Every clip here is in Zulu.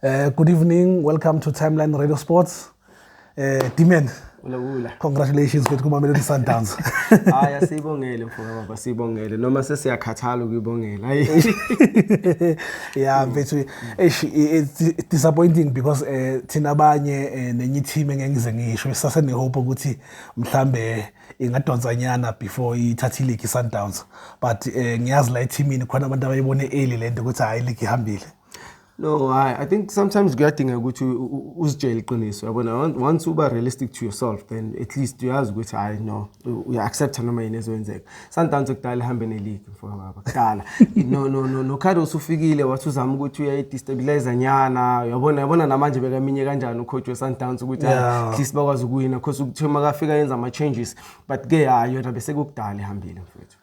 Uh, good evening, welcome to Timeline Radio Sports. Uh, Dimen. Ula ula. Congratulations mfethu kuma Melody Sundowns. Hayi asibongele mfowethu baba sibongele noma sesiyakhathala ukuyibongela. Hayi. Yeah mfethu eish it's disappointing because eh thina abanye eh, nenye team engengize ngisho sase ne hope ukuthi mhlambe ingadonsa nyana before ithathe league Sundowns but eh ngiyazi la teamini khona abantu abayibone early lento ukuthi hayi league ihambile. No, I, I think sometimes kuyadinga ukuthi uzitshele iqiniso yabona once uba realistic to yourself then at least uyazi ukuthi hayi no uya-accepta noma yini ezoyenzeka sundowns ekudala ihambe neleague mfowababa kudala no no no nokhado usufikile wathi uzama ukuthi uyayidestabilize nyana uyabona yabona namanje bekaminye kanjani ucoach we-sundowns ukuthi at least bakwazi ukuwina because ukuthiwa makafika yenza ama-changes but ke hayi yona besekukudala ihambile mfethu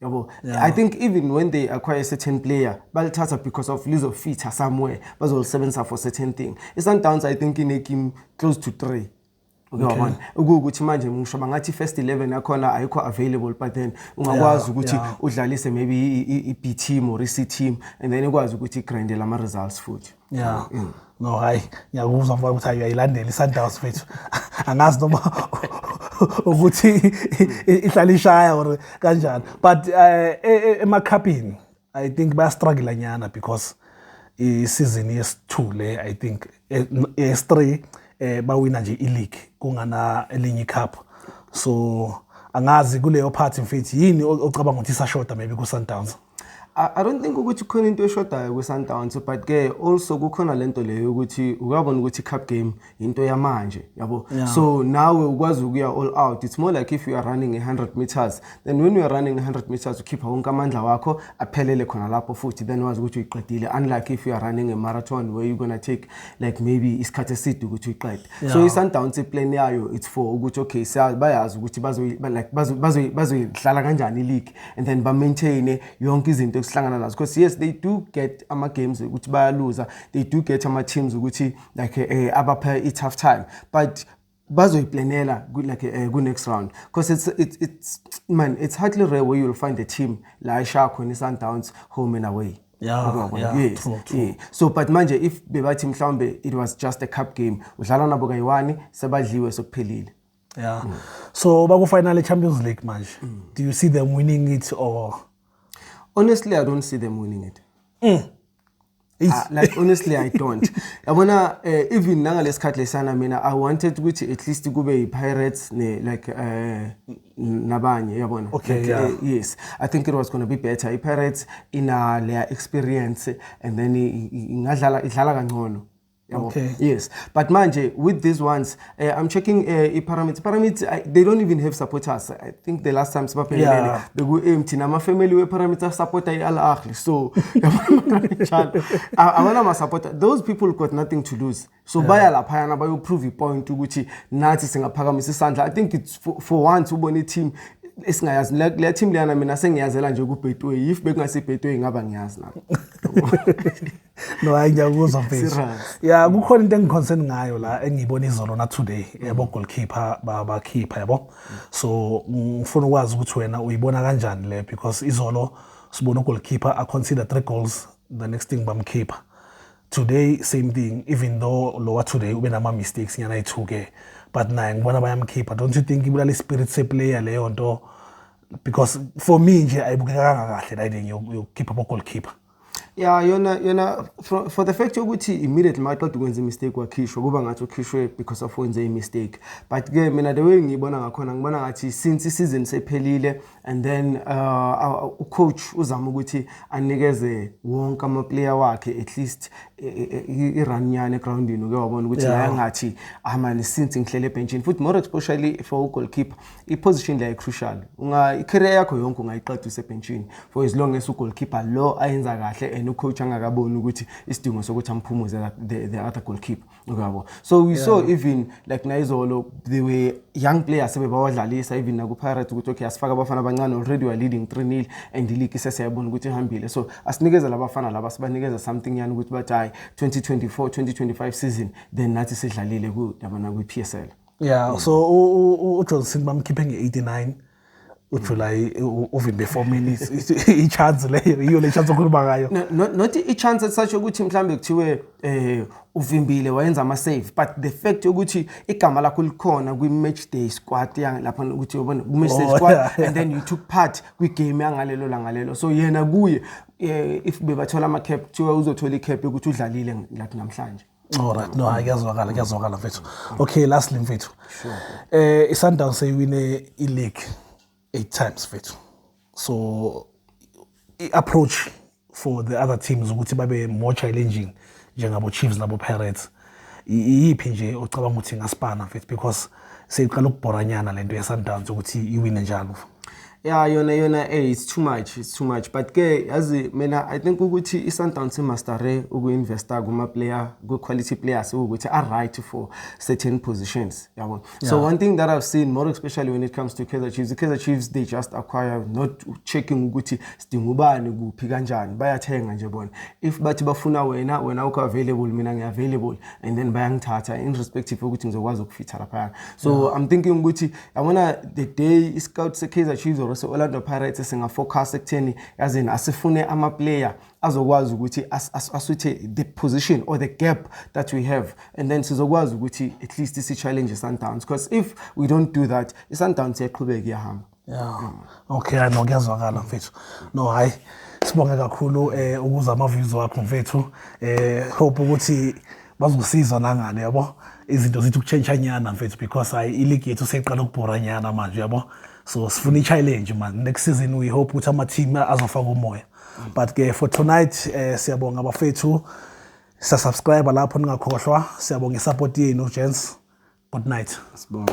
yabo yeah. i think even when they acquire a certain player balithatha because of lizofitha somewhere bazolisebenzisa for certain thing isundowns i think inekim close to three uyabona ukuthi manje ngisho bangathi first 11 yakhona ayikho available but then ungakwazi ukuthi udlalise maybe i-B team or i-C team and then ikwazi ukuthi igrinde lama results futhi ya mm. no hayi ngiyakuzwa mfana ukuthi uyayilandela i-sundowns fethu angazi noma ukuthi ihlala ishaya or kanjani but eh, e, e, emakhapini i think bayastruggle nyana because i-season yesi-2 le i think e, yes-3 eh bawina nje i-league kungana elinye icup so angazi kuleyo part mfethu yini ocabanga ukuthi isashoda maybe ku-sundowns I don't think ukuthi khona into eshodayo kwiSundowns but ke also kukhona lento leyo ukuthi ukabona ukuthi cup game into yamanje yabo yeah. so nawe ukwazi ukuya all out it's more like if you are running 100 meters then when you are running 100 meters ukhipha wonke amandla wakho aphelele khona lapho futhi then wazi ukuthi uyiqedile unlike if you are running a marathon where you going to take like maybe isikhathi eside ukuthi uyiqede yeah. so iSundowns iplan yayo it's for ukuthi okay bayazi ukuthi bazo like bazo bazoyihlala kanjani league and then ba-maintaine yonke izinto esihlangana nazo because yes they do get ama-games ukuthi bayaluza they do get ama-teams ukuthi like eh, abapha i-tough time but bazoyiplanela like uh, ku-next round because it's, it's, it's, man it's hardly rare where you'll find a team la ishaya khona i-sundowns home and away Yeah, yeah, yes, true, true. Yeah. so but manje if bebathi mhlawumbe it was just a cup game udlala nabo kayi-one sebadliwe sekuphelile yeah mm. so bakufinal e-champions league manje mm. do you see them winning it or honestly i don't see them winning it mm. Uh, like honestly i don't yabona uh, even nangalesikhathi lesana mina i wanted ukuthi at least kube yi-pirates ne like uh, nabanye yabona okay, like, yeah. uh, yes i think it was going to be better i-pirates ina leya experience and then ingadlala idlala kangcono yabo Okay. yes but manje with these ones uh, i'm checking uh, ipyramids pyramids I, they don't even have supporters i think the last time sibaphelelele Yeah. beku-empty namafamily we-pyramids asupporta i-al ahli so njalo A- abana masupporter those people got nothing to lose so baya laphayana bayoprove ipoint ukuthi nathi singaphakamisa isandla i think it's for, for once ubona i-team esingayazi Le- le team leyana mina sengiyazela nje kubhetway if bekungasibhetway ngaba ngiyazi nami no hayi ngiyakuzwa mfethu ya kukhona into engiconcern ngayo la engiyibona izolo na today yabo goalkeeper babakhipha yabo so ngifuna ukwazi ukuthi wena uyibona kanjani le because izolo sibona ugoalkeeper a consider three goals the next thing bamkhipha today same thing even though lowa today ube nama mistakes nyana ethu ke but naye ngibona bayamkhipha don't you think ibulala ispirit seplayer leyo nto because for me nje ayibukekanga kahle la into yokukhipha bo goalkeeper ya yona yona for, for the fact yokuthi immediately maqeda ukwenza imistake wakhishwa kuba ngathi ukhishwe because of wenze imistake but ke mina the way ngiyibona ngakhona ngibona ngathi since isizini sephelile and then uh, uh, ucoach uzama ukuthi anikeze wonke amaplayer wakhe at least e, e, e, i-run yani egroundini uke wabona ukuthi yeah. ngathi amani ah, since ngihlele ebhentshini futhi more especially for ugoalkeeper iposition la icrucial unga icareer yakho yonke ungayiqeda usebhentshini for as long as ugoalkeeper lo ayenza kahle and ucoach angakaboni ukuthi isidingo sokuthi amphumuze the, the other goalkeeper uyabo so we yeah. saw even like nayizolo they were young players sebebawadlalisa even nakupirates ukuthi okay asifaka abafana abancane already we are leading 3-0 and ileague isesiyabona ukuthi ihambile so asinikeza labafana laba sibanikeza something yani ukuthi bathi hayi 2024 2025 season then nathi sidlalile ku yabona kwi-PSL yeah so ujohnson bamkhiphe nge-89 ujuly uvimbe four minutes i-chance leyo yiyo le chance okhuluma ngayo not i-chance esisasho ukuthi mhlawumbe kuthiwe um uvimbile wayenza ama-save but the fact yokuthi igama lakho likhona kwi-match day squad lapha ukuthi ubona ku-match day oh, squad and then you took part kwigame yangalelo langalelo so yena kuye um if bebathola ama-cap kuthiwa uzothola i-cap yokuthi udlalile lathi namhlanje Alright, no, hayi kuyazwakala, kuyazwakala mfethu. Okay, lastly mfethu. Sure. Eh iSundowns seyiwine ileague 8 times mfethu. So i-approach for the other teams ukuthi babe more challenging njengabo Chiefs nabo Pirates. Iyiphi nje ocabanga ukuthi ngaspana mfethu because seyiqala ukubhoranyana lento yeSundowns ukuthi iwine njalo ya yona yona hey it's too much it's too much but ke yazi mina i think ukuthi iSundowns imastare ukuinvesta kuma player ku quality players ukuthi are right for certain positions yabo yeah. so one thing that i've seen more especially when it comes to Kaizer Chiefs the Kaizer Chiefs they just acquire not checking ukuthi sidinga ubani kuphi kanjani bayathenga nje bona if bathi bafuna wena wena ukho available mina ngi available and then bayangithatha in respective ukuthi ngizokwazi ukufitha lapha so yeah. i'm thinking ukuthi yabona the day i scout se Kaizer Chiefs or se Orlando Pirates singa focus ekutheni yazini asifune ama player azokwazi ukuthi asuthe the position or the gap that we have and then sizokwazi ukuthi at least si challenge Sundowns because if we don't do that i Sundowns iyaqhubeka iyahamba Yeah. Okay, no kuyazwakala mfethu. No hayi sibonge kakhulu eh ukuza ama views wakho mfethu. Eh hope ukuthi bazosizwa nangane yabo. Izinto zithi ukuchange nyana mfethu because hayi iligi yethu seyiqala ukubhora nyana manje yabo. So sifuna i-challenge man. Next season we hope ukuthi ama team azofaka umoya. But ke for tonight eh siyabonga bafethu. Sa subscribe lapho ningakhohlwa. Siyabonga i support yenu gents. Good night. Sibonga.